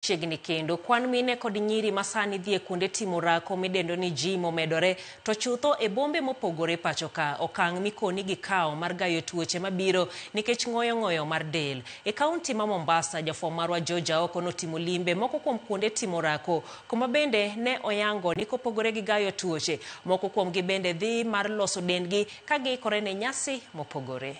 chiegni kendo. Kwan mine kod nyiri ma sani dhi e kuonde timo rako midendo ni gym omedore to chutho e bombe mopogore pacho ka. Okang' mikoni gikawo mar gayo tuoche mabiro nikech ng'oyo ng'oyo mar del. E kaunti ma Mombasa, jafwambo marwa George Aoko notimo limbe moko kuom kuonde timo rako kuma bende ne oyango ni kopogore gi gayo tuoche, moko kuomgi bende dhi mar loso dendgi ka giikore ne nyasi mopogore.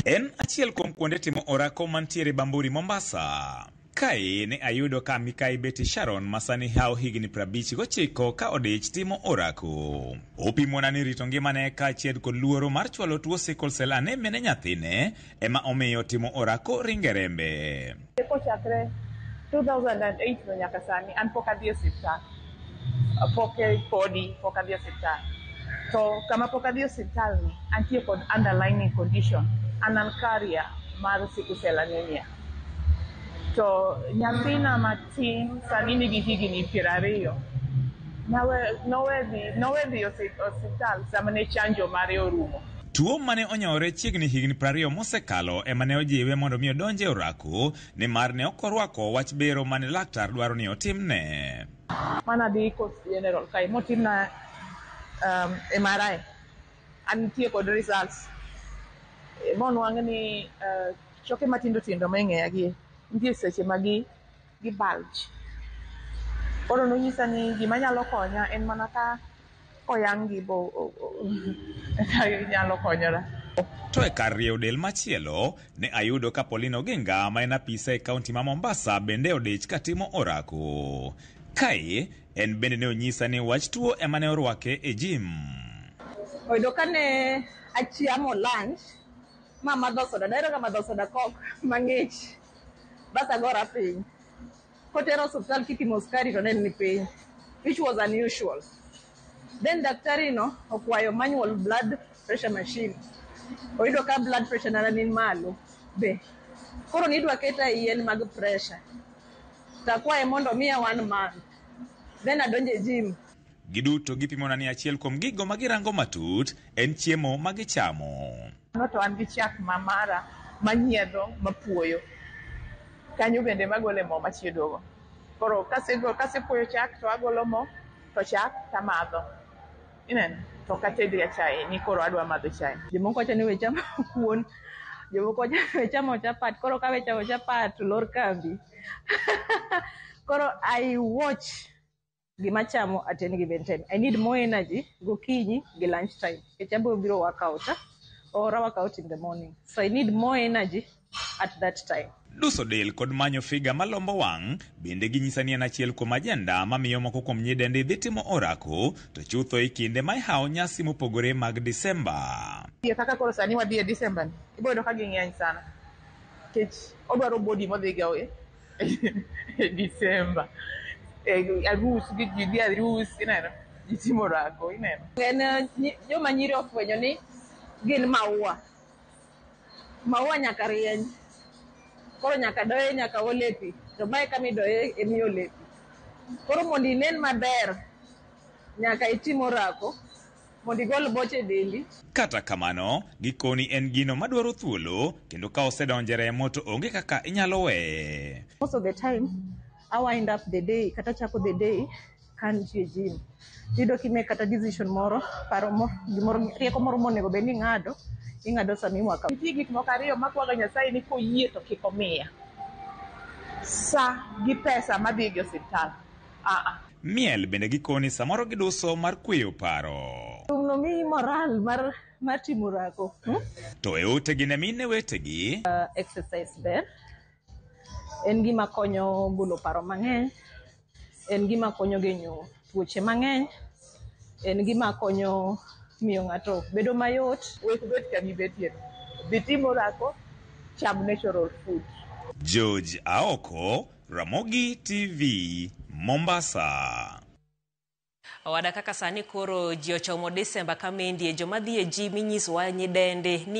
En achiel kuom kuonde timo orako mantiere Bamburi, Mombasa. Kae ne ayudo ka Mikai Betty Sharon masani hawo higni 59 ka odich timo orako. Opimona ni rito ngimane kaachiel kod luoro mar chwalo tuo sickle cell anemia ne nyathine ema omiyo timo orako ringe rembe. Kochakre 2008 no nyaka sani an pok adhi e osiptal. Pok podi pok adhi e osiptal. To kama pok adhi e osiptal ni antie kod underlying condition. An an carrier mar sickle cell anemia. To nyathina matin sani nigi higni piero ariyo. Nawe, nowe dhi, nowe dhi e osi- osiptal sama ne chanjo mare orumo. Tuo mane onyore chiegni higni prariyo mosekalo ema ne ojiwe mondo mi odonje orako nimar ne ok orwako wach bero mane laktar dwaro ni otimne. Mane adhi Coast General kae motimna um, MRI an nitie kod results monwang' ni uh, choke matindo tindo ma ing'eya gi nitie seche magi gi bulge. Koro nonyisa ni gima nyalo konya en mana ka oyang' gi bo eka inyalo konyora. To e kar rieyo del machielo, ne ayudo ka Pauline Oginga ma en apisa e kaunti ma Mombasa bende odich ka timo orako. Kae, en bende ne onyisa ni wach tuo ema ne orwake e jim. Oyudo ka ne achiamo lunch ma amadho soda, dahero ga madho soda kok mang'ich. bas agora piny. Kotera osuptal kipimo skari to nen ni piny which was unusual. Then daktari no okwayo manual blood pressure machine. Oyudo ka blood pressure nana ni malo be. Koro nidwa keta e yien mag pressure. Takwaye mondo miya one month. Then adonje gym. Giduto gipimona ni achiel kuom gigo ma girango matut en chiemo ma gichamo. Mano to an gi chak ma mara manyiedho mapuoyo. Kanyo bende magole mo machiedogo. Koro kasepuoyo chak to agolo mo to chak tamadho. Ineno? To ok atedga chae ni koro adwa madho chae. Jomoko wacho ni we chamo kuon, jomoko wacho ni we chamo chapat. Koro kawe chamo chapat to lor kambi. Koro I watch. gima chamo attend given time i need more energy gokinyi gi lunch time nikech abiro biro work out ah, or I work out in the morning so i need more energy at that time Duso del kod manyo figa malombo wang' bende ginyisa ni en achiel kuom ajenda mamiyo moko kuom nyidendi dhi timo orako to chutho e kinde ma ihawo nyasi mopogore mag Disemba. Iye kaka koro sani wadhi e Disemba ni, ibiro yudo ka ging'eny sana. Nikech odwaro body modhiga e. December. Eh, arus gi ji dhi arus ineno ji timo orako ineno en eh, nyi- joma nyiri ofwenyo ni gin maua maua nyaka rieny koro nyaka doye nyaka ole pi to mae kama idoye emi ole pi koro mondo inen maber nyaka itim orako mondo igol boche e dendi. Kata kamano, gikoni en gino madwaro thuolo kendo ka osedonje remo to onge kaka inyalo weye. Most of the time, I wind up the day kata chako the day ka nitie gym. Iyudo kime kata decision moro, paro moro, gimoro, rieko moro monego bed ni ing'ado, ing'ado sama iwaka. Nitie gik moko ariyo makwaga Nyasaye ni koyie to kik omiya. Sa gi pesa madhi e osiptal. Aa. Miel bende gikoni samoro giduso mar kweyo paro. Thumno miyi moral mar mar timo orako. Hmm? To e utegi ne mine wetegi. Uh, exercise ber. En gima konyo golo paro mang'eny. En gima konyo genyo tuoche mang'eny. En gima konyo miyo ng'ato bedo mayot. Wek bet kama ibetie. Dhi tim orako, cham natural food. George Aoko Ramogi TV, Mombasa. Owada kaka sani koro ji ochomo Disemba ka mendi e joma dhi e ji minyisowa nyidendi ni